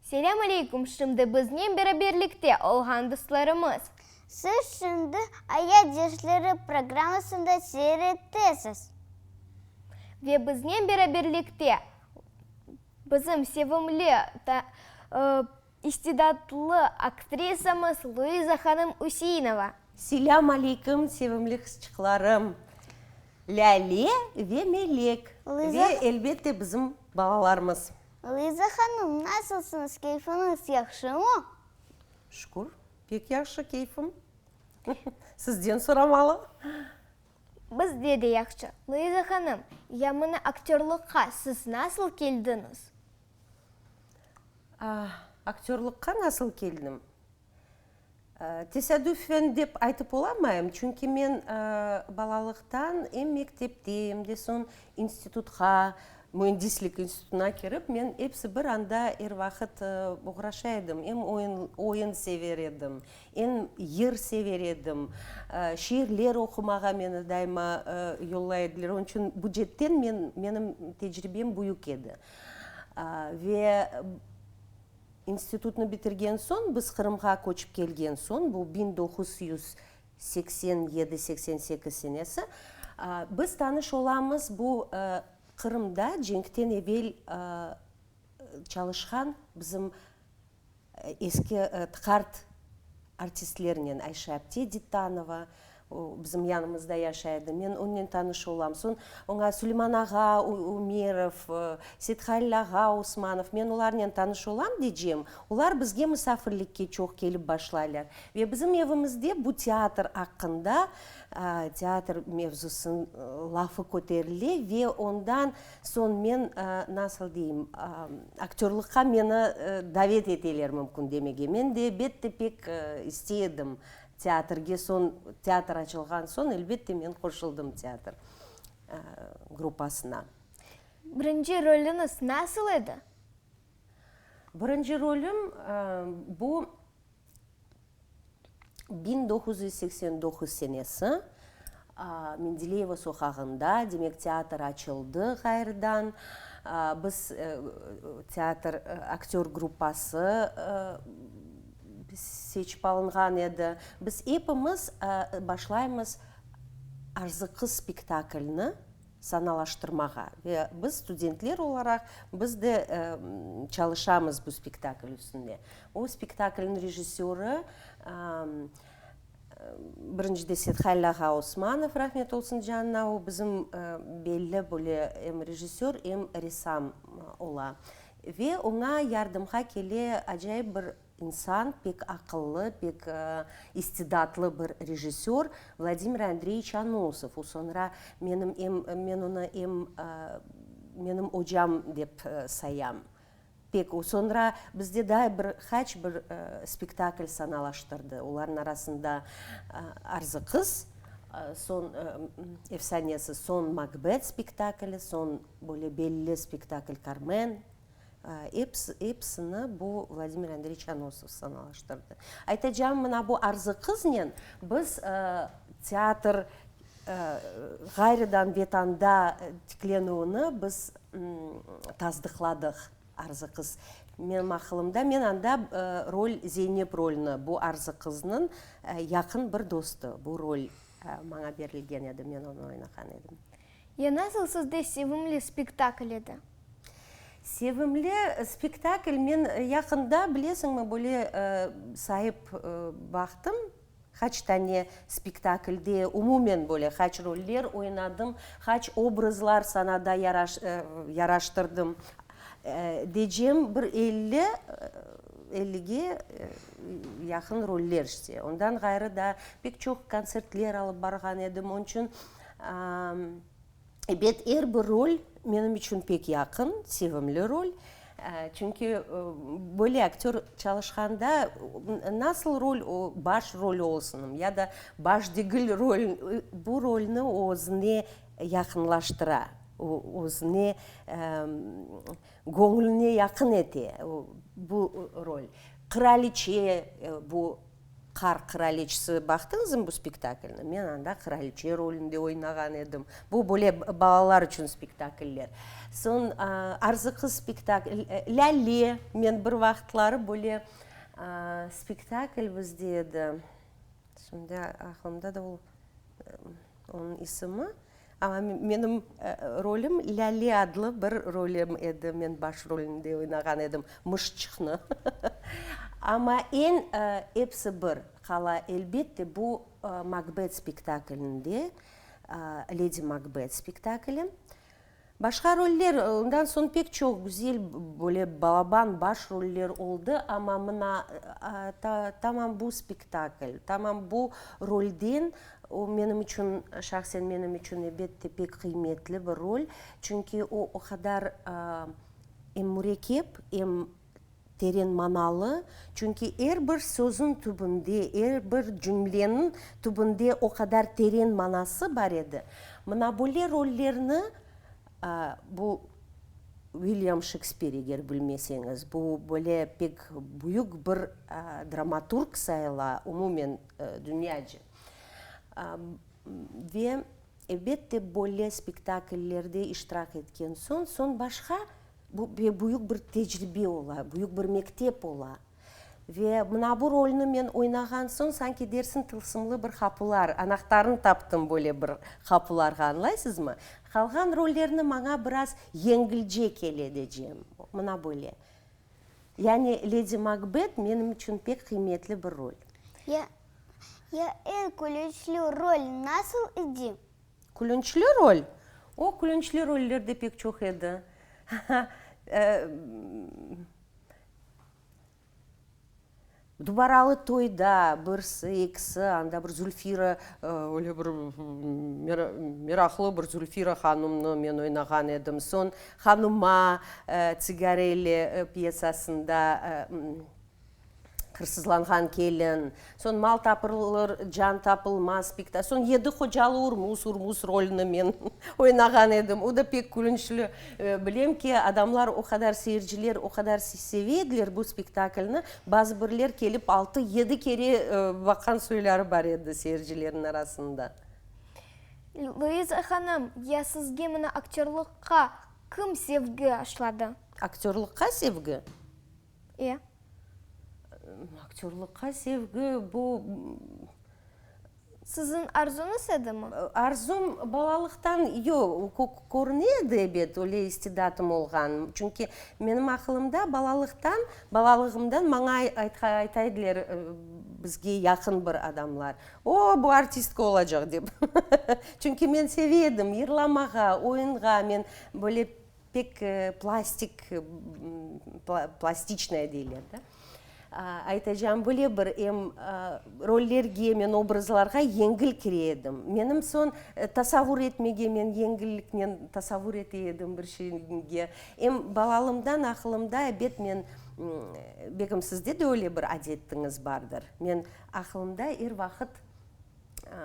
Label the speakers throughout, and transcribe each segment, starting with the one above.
Speaker 1: Selâm aleyküm, şimdi biznen beraberlikte olğan dostlarımız. Siz
Speaker 2: şimdi Aya dersleri programmasında seyrettesiz.
Speaker 1: Ve biznen beraberlikte bizim sevimli İstidatlı aktrisamız Luiza hanım Üseinova. Selâm
Speaker 3: aleyküm sevimli qızçıqlarım Lâle ve Melek ve
Speaker 2: elbette bizim
Speaker 3: balalarımız. Luiza
Speaker 2: hanım nasılsıñız keyfiñiz yahşımı? Şükür
Speaker 3: pek yahşı keyfim sizden soramalı.
Speaker 1: Bizde de yahşı. Luiza hanım yamına aktörlıqqa siz nasıl keldiñiz?
Speaker 3: Aktörlıqqa nasıl keldim? Tesadüfen dep aytıp olamayım, çünki men balalıqtan em mektepte, em de soñ institutqa, müendislik institutına kirip, men episi bir anda er vaqıt oğraşa edim. Em oyun sever edim, em yır sever edim, şiirler oqumağa meni daima yollay ediler. Onıñ içün bu cetten menim tecribem büyük edi. Ve institutnı bitirgen soñ, biz Qırımğa köçip kelgen soñ, bu biñ doquz yüz seksen yedi, seksen sekiz senesi, biz tanış olamız bu Qırımda cenkten evel çalışqan bizim Eski TKART artistlerinen Ayşe Apte Dittanova bizim yanımızda yaşay edi. Men onnen tanış olam. Soñ oña Suleyman ağa Ümerov, Sethalil ağa Osmanov, men olarnen tanış olam decem, olar bizge musafirlikke çoq kelip başlaylar. Ve bizim evimizde bu teatr aqqında, teatr mevzusın lafı köterile ve ondan Soñ men, nasıl deyim, aktörlıqqa meni davet eteler mümkün demege. Men de, elbette, pek istey edim teatrge. Soñ, teatr açılğan soñ, elbette, men qoşuldım teatr gruppasına. Birinci
Speaker 1: rolüñiz nasıl edi?
Speaker 3: Birinci rolüm, bu. Biñ doquz yüz seksen doquz senesi, Mendeleyeva soqağında, demek, teatr açıldı ğayrıdan. Biz teatr, aktör gruppası seçip alınğan edi. Biz epimiz başlaymız Arzı qız spektaklini. sanalaştırmağa ve biz studentler olaraq biz de çalışamız bu spektakl üstünde. O spektaklniñ rejissörı birinci deset Halil ağa Osmanov, rahmet olsun canına, o bizim belli böyle em rejissör, em ressam ola. Ve oña yardımğa kele acayip bir. İnsan, pek aqıllı, pek istidatlı bir rejissör Vladimir Andreyiç Anosov. O soñra menim em, men onı em menim ocam dep sayam. Pek o soñra bizde daa bir haç bir spektakl sanalaştırdı. Olarnıñ arasında Arzı qız, soñ efsanesi, soñ Makbet spektakli, soñ böyle belli spektakl Karmen. Episini bu Vladimir Andreyiç Anosov sanalaştırdı. Aytacağım, mına bu arzı qıznen biz teatr ğayrıdan Vetanda tiklenüvini biz tasdıqladıq, arzı qız. Menim aqılımda, men anda rol, Zeynep rolüni, bu arzı qıznıñ yaqın bir dostı, bu rol maña berilgen edi, men onı oynağan edim. Ya nasıl
Speaker 1: sizde sevimli spektakl edi?
Speaker 3: Sevimli spektakl, men yaqında, bilesiñmi, böyle sayıp baqtım, qaç tane spektaklde, umumen böyle qaç roller oynadım, qaç obrazlar sanada yaraştırdım. Decem, bir elli, ellige yaqın roller işte. Ondan ğayrı da pek çoq kontsertler alıp barğan edim. Onıñ içün. Ebet, er bir rol menim içün pek yaqın, sevimli rol. Çünki böyle aktör çalışqanda nasıl rol, o baş rol olsun ya da baş degil rol, bu rolni o özüne yaqınlaştıra, özüne, göñlüne yaqın ete bu rol. Qıraliçe bu. Qar qıraliçesi baqtıñızmı bu spektaklni? Men anda qıraliçe rolünde oynağan edim. Bu böyle balalar içün spektakller. Soñ Arzı qız spektakli, Lâle, men bir vaqıtları böyle spektakl bizde edi. Şimdi aqlımda da ol. Onıñ isimi, amma menim rolim Lâle adlı bir rolim edi, men baş rolinde oynağan edim, Mışçıqnı. Amma eñ, episi bir qala, elbette, bu Makbet spektaklinde, Ledi Makbet spektakli. Başqa roller, ondan soñ pek çoq güzel böyle balaban baş roller oldı, amma mına tamam bu spektakl, tamam bu rolden, o menim içün, şahsen menim içün ebet de pek qıymetli bir rol, çünki o o qadar em mürekkep, em Teren manalı, çünki er bir sözün tübünde, er bir cümleniñ tübünde o qadar teren manası bar edi. Mına böyle rollerni, bu Uilyam Şekspir, eger bilmeseñiz, bu böyle pek büyük bir dramaturg sayıla umumen dünyacı. Ve elbette böyle spektakllerde iştirak etken soñ, soñ başqa Bu ve büyük bir tecribe ola, büyük bir mektep ola. Ve mına bu rolni men oynağan soñ, sanki dersiñ tılsımlı bir qapular, anahtarını taptım böyle bir qapularğa, añlaysızmı? Qalğan rollerni maña biraz yengilce kele decem. Mına böyle. Yani Ledi Makbet menim içün pek qıymetli bir rol. Ya,
Speaker 2: ya er külüçlü rol nasıl idi? Külünçli
Speaker 3: rol? O, külünçli roller de pek çoq edi. Dubaralı toyda birsi, ekisi, anda bir Zülfira, öyle bir meraqlı bir Zülfira hanımnı men oynağan edim. Soñ Hanıma, Tsigareyle pyesasında Hırsızlanğan kelin, soñ mal tapılır, can tapılmaz spektakl, soñ Yedi qocalı Urmuz, Urmuz rolüni men oynağan edim, o da pek külünçli. Bilem ki, adamlar o qadar, seyirciler o qadar seve ediler bu spektaklni, bazı birler kelip altı, yedi kere baqan soyları bar edi seyircilerniñ arasında.
Speaker 1: Luiza hanım, ya sizge mına aktörlıqqa kim sevgi aşladı? Aktörlıqqa
Speaker 3: sevgi? E, aktörlıqqa sevgi, bu,
Speaker 1: Siziñ arzuñız edimi? Arzum
Speaker 3: balalıqtan yoq, körüne edi, ebet, öyle istidatım olğan. Çünki menim aqılımda balalıqtan, balalığımdan maña ayta ediler, bizge yaqın bir adamlar, O, bu artistka olacaq, dep. Çünki men seve edim yırlamağa, oyunğa, men böyle, Pek plastik, plastiçnaya deyler da. Aytacağım böyle bir, em rollerge, men obrazlarğa yengil kire edim. Menim soñ tasavur etmege men yengilliknen tasavur ete edim bir şeyge. Em balalımdan aqılımda, ebet, men, bekim, sizde de öyle bir adettiñiz bardır, men aqılımda er vaqıt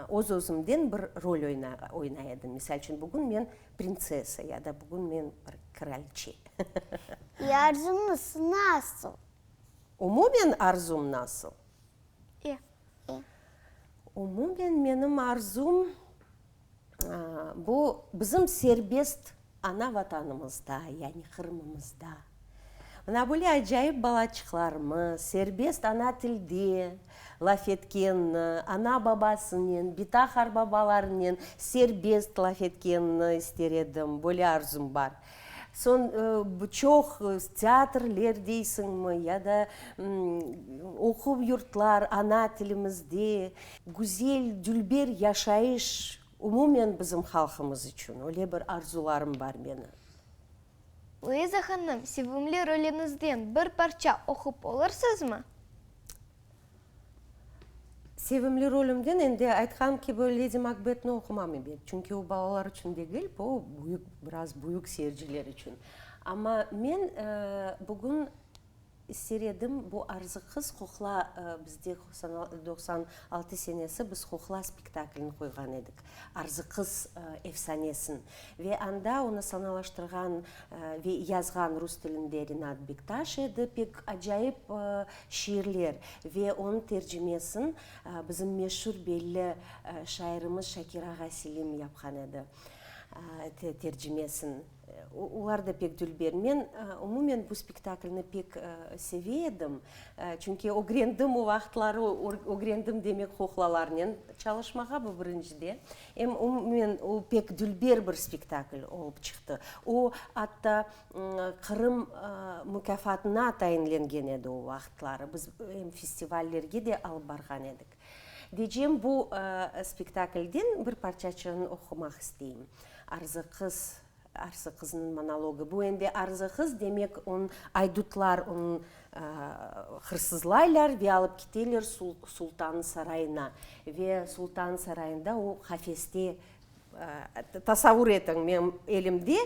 Speaker 3: öz-özümden bir rol oynay edim. Misal içün, bugün men Printsessa ya da bugün men bir kraliçe. İ,
Speaker 2: arzuñız nasıl? Umumen
Speaker 3: arzum nasıl? İ, İ. Umumen menim arzum, bu bizim serbest ana Vatanımızda, yani Qırımımızda. Mına böyle acayip balaçıqlarmı, serbest ana tilde laf etkenni, ana-babasınen, bitahr babalarınen serbest laf etkenni ister edim, böyle arzum bar. Soñ, bu çoq teatrler deysiñmi, ya da oquv yurtlar ana tilimizde. Güzel, dülber yaşayış umumen bizim halqımız içün, öyle bir arzularım bar menim.
Speaker 1: Luiza hanım, sevimli rolüñizden bir parça oqup olursızmı?
Speaker 3: Sevimli rolümden endi aytqanım kibi Ledi Makbetni oqumam ebet, çünki o balalar içün degil, bu büyük, biraz büyük seyirciler içün. Amma men bugün Seredim, bu arzı qız qoqla, bizde doqsan altı senesi biz qoqla spektaklini qoyğan edik, arzı qız efsanesin. Ve anda onı sanalaştırğan ve yazğan rus tilinde Rinat Bektaş edi, pek acayip şiirler ve onı tercimesin bizim meşur belli şairimiz Şakir ağa Selim yapqan edi tercimesin. Olar da pek dülber. Men, umumen, bu spektaklni pek seve edim. Çünki ögrendim, o vaqıtları ögrendim demek kuklalarnen çalışmağa, bu birincide. Em umumen, o pek dülber bir spektakl olıp çıqtı. O, atta, Qırım mukâfatına tayinlengen edi o vaqıtları. Biz em festivallerge de alıp barğan edik. Diycem, bu spektaklden bir parçaçığını oqumaq isteyim. Arzı qız, Arzı qıznıñ monologı. Bu endi Arzı qız, demek, onı aydutlar onı hırsızlaylar ve alıp kiteler sultannıñ sarayına. Ve sultannıñ sarayında o qafeste, tasavur etiñ, menim elimde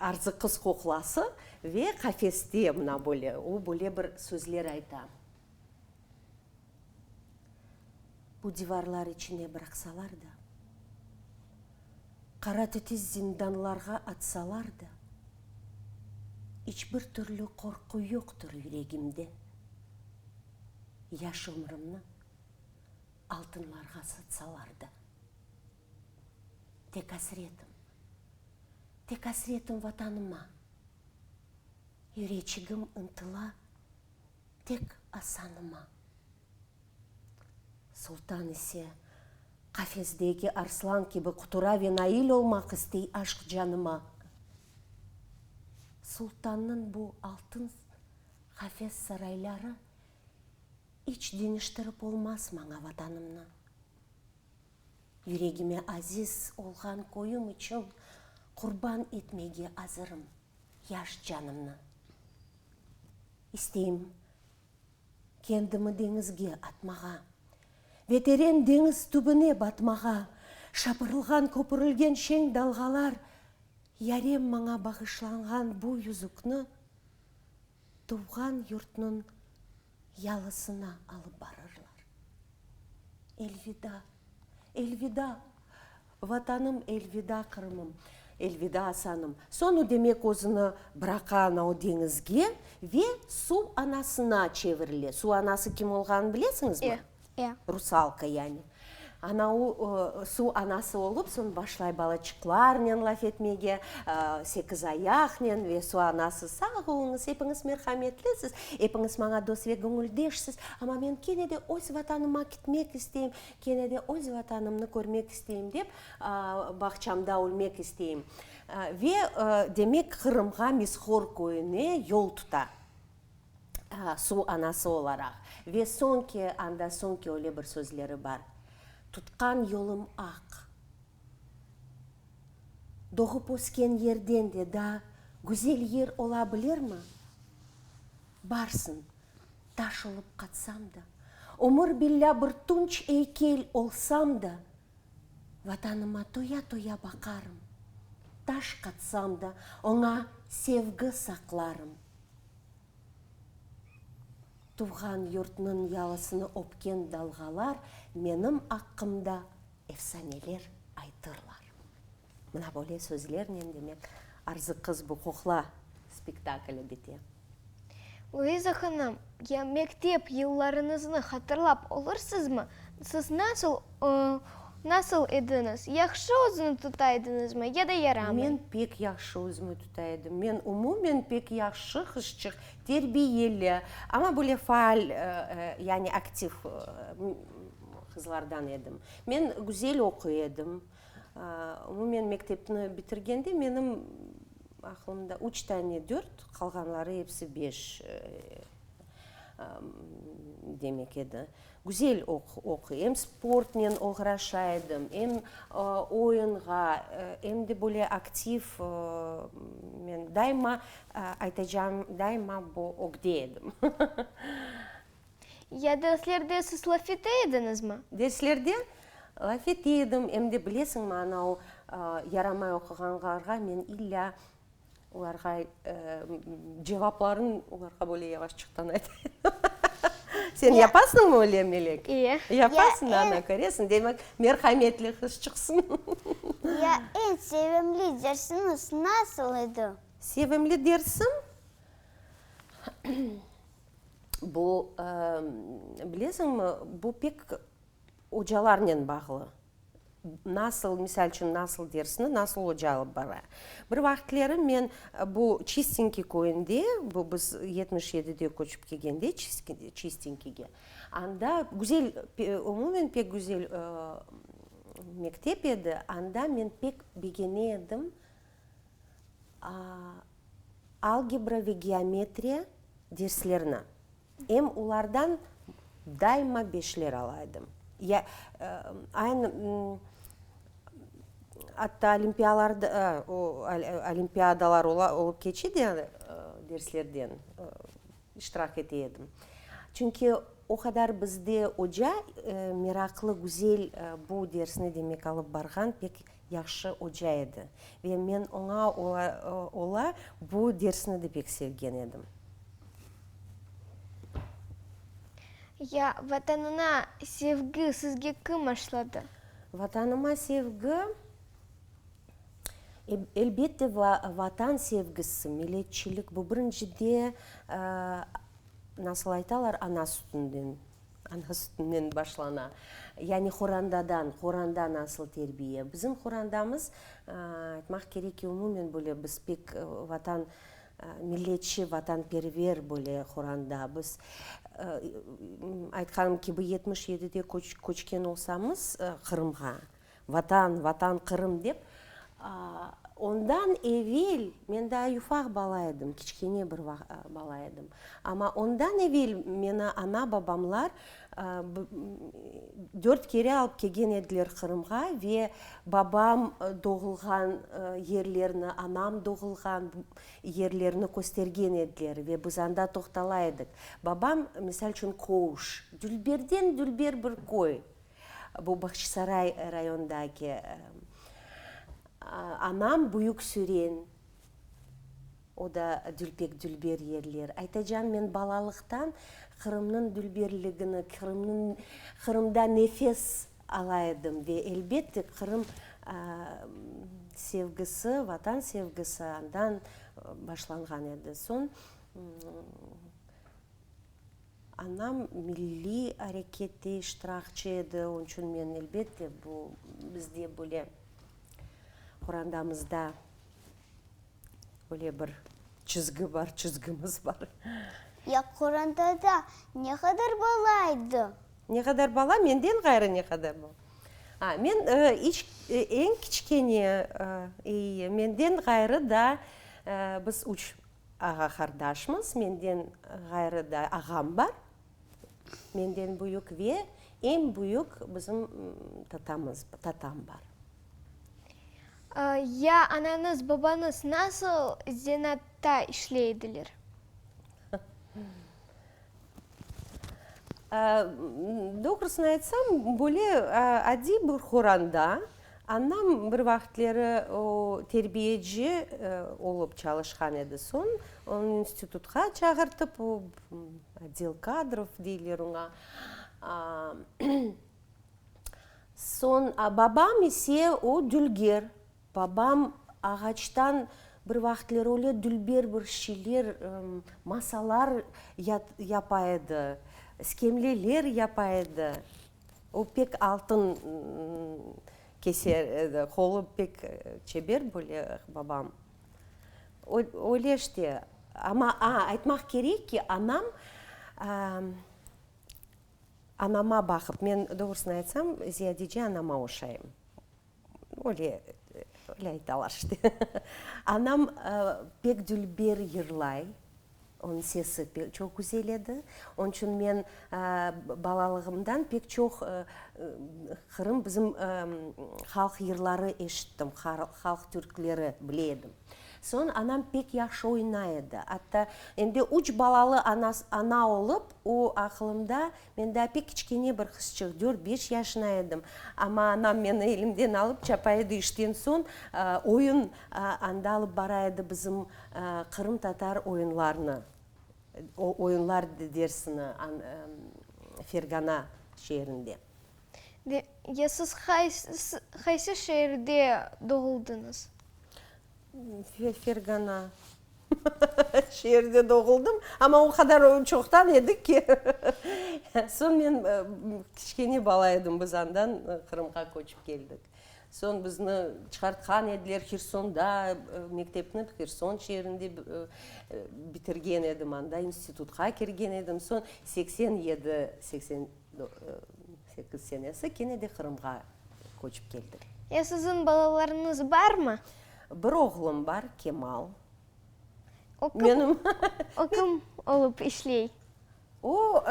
Speaker 3: Arzı qız kuklası ve qafeste mına böyle, o böyle bir sözler ayta. Bu divarlar içine bıraqsalar da, qara titiz zindanlarğa atsalar da, iç bir türlü qorqu yoqtur yüregimde. Yaş ömrümni altınlarğa satsalar da. Tek asretim, tek asretim Vatanıma. Yüreçigim ıntıla. tek asanıma. Sultan ise qafesdeki arslan kibi qutura ve nail olmaq istey aşq canıma. Sultannıñ bu altın qafes sarayları iç deñiştirip olmaz maña Vatanımnı. Yüregime aziz olğan köyüm içün qurban etmege azırım. Yaş canımnı isteyim kendimi deñizge atmağa Ve teren deñiz tübüne batmağa Şapırılğan, köpürilgen şeñ dalğalar Yarem maña bağışlanğan bu yüzükni Tuvğan yurtnıñ yalısına alıp barırlar. Elvida, elvida, Vatanım, elvida, Qırımım, elvida, Asanım. Soñ o, demek, özüni bıraqa anau deñizge ve suv anasına çevirile. Suv anası kim olğanını bilesiñizmi? E, E. Rusalka yani. Ana u suv anası olıp, soñ başlay balaçıqlarnen laf etmege, sekizayaqnen ve suv anası, sağ oluñız, epiñiz merhametlisiz, epiñiz maña dost ve göñüldeşsiz, amma men kene de öz Vatanıma kitmek isteyim, kene de öz Vatanımnı körmek isteyim dep, bağçamda ölmek isteyim. Ve demek, Qırımğa, Mizhor köyüne yol tuta. suv anası olaraq. Ve soñki anda, soñki öyle bir sözleri bar, Tutqan yolum aq. Doğıp-ösken yerden de daa güzel yer ola bilirmi? Barsın, taş olıp qatsam da, ömür billâ bir tunç eykel olsam da, Vatanıma toya-toya baqarım, Taş qatsam da, oña sevgi saqlarım. Tuvğan yurtnıñ yalısını öpken dalğalar Menim aqqımda efsaneler aytırlar. Mına böyle sözlernen, demek, Arzı qız bu qoqla spektakli bite. Luiza
Speaker 1: hanım, ya mektep yıllarıñıznı hatırlap olursızmı? Siz nasıl, nasıl ediñiz? Yahşı özüni tutaydıñızmı ya da yaramay? Men pek yahşı
Speaker 3: özümi tutaydım. Men umumen pek yahşı qızçıq, terbiyeli, amma böyle faal, yani aktiv qızlardan edim. Men güzel oquy edim. Umumen mektepni bitirgende menim aqlımda üç tane dört, qalğanları episi beş demek edi. Güzel oquy, em sportnen oğraşa edim, em oyunğa, em de böyle aktiv, men daima aytacağım, daima bu ögde edim. Ya
Speaker 1: derslerde siz laf ete ediñizmi? Derslerde
Speaker 3: laf ete edim, em de, bilesiñmi, anau yaramay oquğanlarğa men illâ olarğa cevaplarıñ olarğa böyle yavaşçıqtan ayta edim. Sen yapasıñmı öyle, Melek? İye. Yapasıñ,
Speaker 1: ana,
Speaker 3: köresiñ, demek, merhametli qız çıqsıñ. Ya
Speaker 2: eñ sevimli dersiñiz nasıl edi? Sevimli
Speaker 3: dersim? bu, bilesiñmi, bu pek ocalarnen bağlı. Nasıl, misal içün, nasıl dersni nasıl oca alıp bara. Bir vaqıtları men bu Çistinki köyünde, bu biz yetmiş yedide köçip kelgende Çistinkige, anda güzel, umumen pek güzel mektep edi, anda men pek begene edim algebra ve geometriya derslerini. Em olardan daima beşler ala edim. Ya, aynı, atta olimpiyalarda, o, olimpiadalar olıp keçe de, derslerden iştirak ete edim. Çünki o qadar bizde oca meraqlı, güzel bu dersni demek alıp barğan pek Yahşı oca edi ve men oña ola bu dersni de pek sevgen edim.
Speaker 1: Ya Vatanına sevgi sizge kim aşladı? Vatanıma
Speaker 3: sevgi, elbette, Vatan sevgisi, milletçilik, bu birinci de, nasıl aytalar, ana sütünden Ana sütünden başlana. Yani qorandadan, qoranda nasıl terbiye. Bizim qorandamız, aytmaq kerek ki, umumen böyle biz pek vatan, milletçi, vatanperver böyle qoranda. Biz, aytqanım kibi, yetmiş yedide köçken olsamız Qırımğa, Vatan, Vatan, Qırım dep. Ondan evel, men daa yufaq bala edim, kiçkene bir bala edim. Amma ondan evel meni ana-babamlar dört kere alıp kelgen ediler Qırımğa ve babam doğulğan yerlerni, anam doğulğan yerlerni köstergen ediler ve biz anda toqtala edik. Babam, misal içün, Kouş, dülberden-dülber bir köy. Bu Bağçasaray rayonındaki anam Büyük Süren, o da dülpek-dülber yerler. Aytacan, men balalıqtan Qırımnıñ dülberligini, Qırımdan nefes ala edim ve, elbette, Qırım sevgisi, Vatan sevgisi andan başlanğan edi. Soñ Anam milliy arekette iştirakçı edi, onıñ içün men, elbette, bu bizde böyle qorandamızda böyle bir çizgi bar, çizgimiz bar. Ya
Speaker 2: qorandada ne qadar bala edi? Ne qadar
Speaker 3: bala? Menden ğayrı ne qadar bala? A, men iç, eñ kiçkene, eyi, menden ğayrı da biz üç Ağa-qardaşımız, menden ğayrı da ağam bar, menden büyük ve eñ büyük bizim tatamız, tatam bar.
Speaker 1: Ya anañız, babañız nasıl zenatta işley ediler?
Speaker 3: Doğrusını aytsam, böyle adiy bir qoranda Anam bir vaqıtleri terbiyeci olıp çalışqan edi, soñ onı institutqa çağırtıp, odel kadrov deyler oña, soñ babam ise o dülger, babam ağaçtan bir vaqıtları öyle dülber bir şeyler, masalar yapa edi, iskemleler yapa edi. O pek altın keser edi, qolı pek çeber, böyle babam. Öyle işte. Amma, a, aytmaq kerek ki, anam, anama baqıp, men doğrusını aytsam, ziyadece anama oşayım. Öyle, öyle aytalar işte. Anam pek dülber yırlay, onıñ sesi çoq güzel edi. Onıñ içün men balalığımdan pek çoq Qırım, bizim halq yırları eşittim, halq türkleri bile edim. Soñ anam pek yahşı oynay edi. Atta endi üç balalı ana olıp, o aqılımda Men daa pek kiçkene bir qızçıq, dört-beş yaşına edim. Amma anam meni elimden alıp, çapa edi, işten soñ oyun anda alıp bara edi bizim qırımtatar oyunlarını, oyunlar dersini Fergana şeerinde. De,
Speaker 1: ya siz qaysı şeerde doğuldıñız? Fergana
Speaker 3: şeerde doğuldım, amma o qadar çoqtan edik ki, soñ men kiçkene bala edim, biz andan Qırımğa köçip keldik. Soñ bizni çıqartqan ediler Hersonda, mektepni Herson şeerinde bitirgen edim, anda institutqa kirgen edim. Soñ seksen yedi, seksen. Sekiz senesi kene de Qırımğa köçip keldik. Ya siziñ
Speaker 1: balalarıñız barmı? Bir oğlum
Speaker 3: bar, Kemal.
Speaker 1: O kim, o
Speaker 3: kim
Speaker 1: olıp işley? O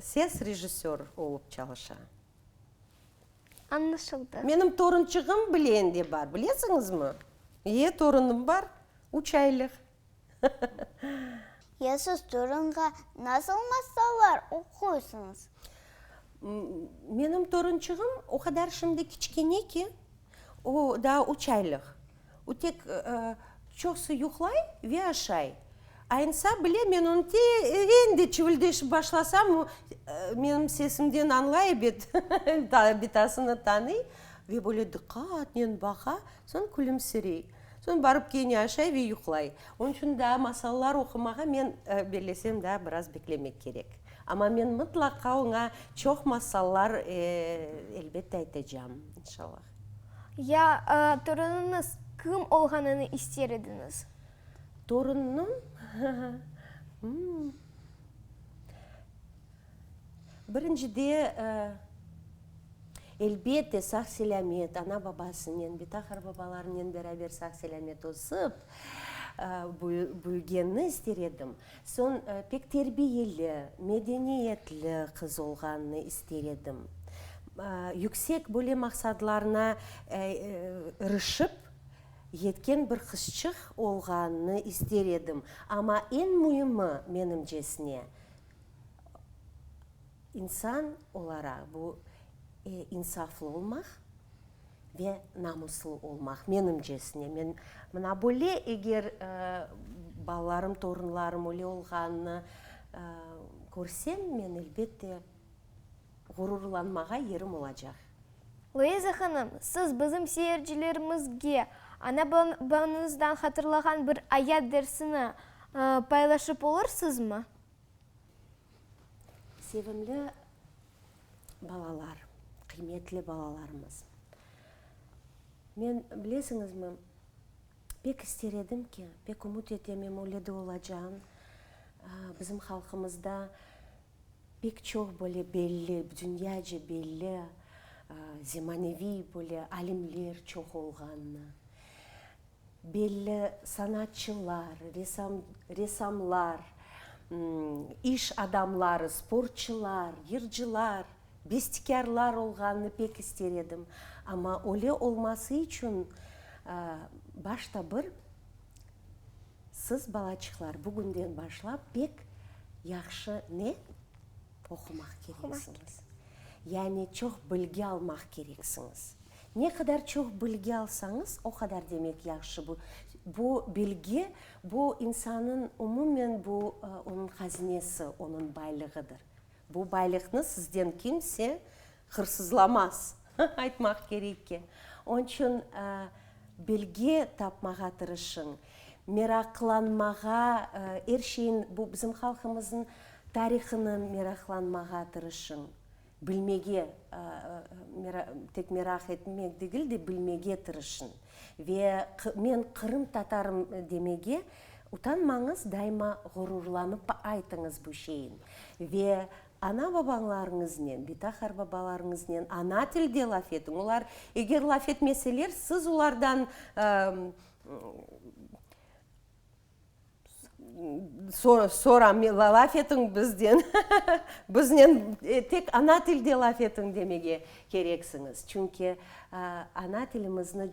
Speaker 3: ses rejissör olıp çalışa.
Speaker 1: Añlaşıldı. Menim torunçığım
Speaker 3: bilen de bar, bilesiñizmi? İye, torunım bar, üç aylıq.
Speaker 2: Ya siz torunğa nasıl masallar oquysıñız?
Speaker 3: Menim torunçığım o qadar şimdi kiçkene ki, o daa üç aylıq. O tek çoqsı yuqlay ve aşay. Aynısa bile, men onı teren de çivildeşip başlasam, o menim sesimden añlay ebet, bitasını tanıy ve böyle diqqatnen baqa, soñ külümsirey. Soñ barıp kene aşay ve yuqlay. Onıñ içün daa masallar oqumağa men bellesem daa biraz beklemek kerek. Amma men mıtlaqa oña çoq masallar elbette aytacam, inşallah. Ya
Speaker 1: torunıñız kim olğanını ister ediñiz? Torunım?
Speaker 3: Hıhı. Birincide, elbette, sağ-selâmet, ana-babasınen, betaharbabalarınen beraber sağ-selâmet ösip büyügenini ister edim. Soñ, pek terbiyeli, medeniyetli qız olğanını ister edim. Yüksek böyle maqsadlarına irişip yetken bir qızçıq olğanını ister edim. Amma eñ müimi, menimcesine, İnsan olaraq bu insaflı olmaq ve namuslı olmaq, menimcesine. Men mına böyle, eger balalarım, torunlarım öyle olğanını körsem, men elbet de ğururlanmağa yerim olacaq. Luiza
Speaker 1: hanım, siz bizim seyircilerimizge ana babanıñızdan hatırlağan bir ayat dersini paylaşıp olursızmı?
Speaker 3: Sevimli balalar, qıymetli balalarımız! Men, bilesiñizmi, pek ister edim ki, pek ümüt etemim, öyle de olacağın. Bizim halqımızda pek çoq böyle belli, dünyaca belli, zemaneviy böyle alimler çoq olğanını. Belli sanatçılar, resam, ressamlar, iş adamları, sportçılar, yırcılar, bestikârlar olğanını pek ister edim. Amma öyle olması içün başta bir siz, balaçıqlar, bugünden başlap pek yahşı ne? Oqumaq kereksiñiz. Yani çoq bilgi almaq kereksiñiz. Ne qadar çoq bilgi alsañız, o qadar demek yahşı. Bu, bu bilgi, bu insannıñ umumen bu onıñ hazinesi, onıñ baylığıdır. Bu baylıqnı sizden kimse hırsızlamaz, aytmaq kerek ki. Onıñ içün bilgi tapmağa tırışıñ, meraqlanmağa, er şeyin, bu bizim halqımıznıñ tarihına meraqlanmağa tırışıñ. Bilmege, tek meraq etmek degil de, bilmege tırışıñ. Ve men qırımtatarım demege utanmañız, daima ğururlanıp aytıñız bu şeyin. Ve ana-babañlarıñıznen, bitaxar babalarıñıznen ana tilde laf etiñ. Olar eger laf etmeseler, siz olardan Sonra laf etiñ bizden, biznen tek ana tilde laf etiñ demege kereksiñiz. Çünki ana tilimizni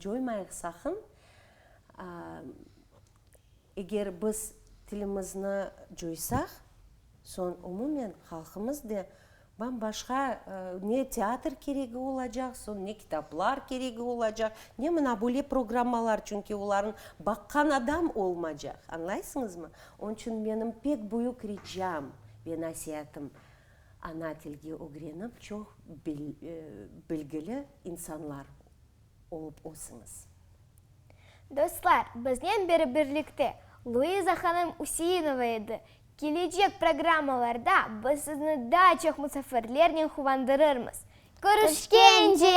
Speaker 3: coymayıq saqın. Eger biz tilimizni coysaq, soñ umumen halqımız da Bam başqa ne teatr keregi olacaq, soñ ne kitaplar keregi olacaq, ne mına böyle programmalar, çünki olarnı baqqan adam olmacaq, añlaysıñızmı? Onıñ içün menim pek büyük ricam ve nasiatım, ana tilge ögrenip çoq bilgili insanlar. olıp olsıñız.
Speaker 1: Dostlar, biznen beri birlikte Luiza hanım Üseinova edi. Kelecek programmalarda biz sizni daa çoq musafirlernen quvandırırmız. Körüşkence!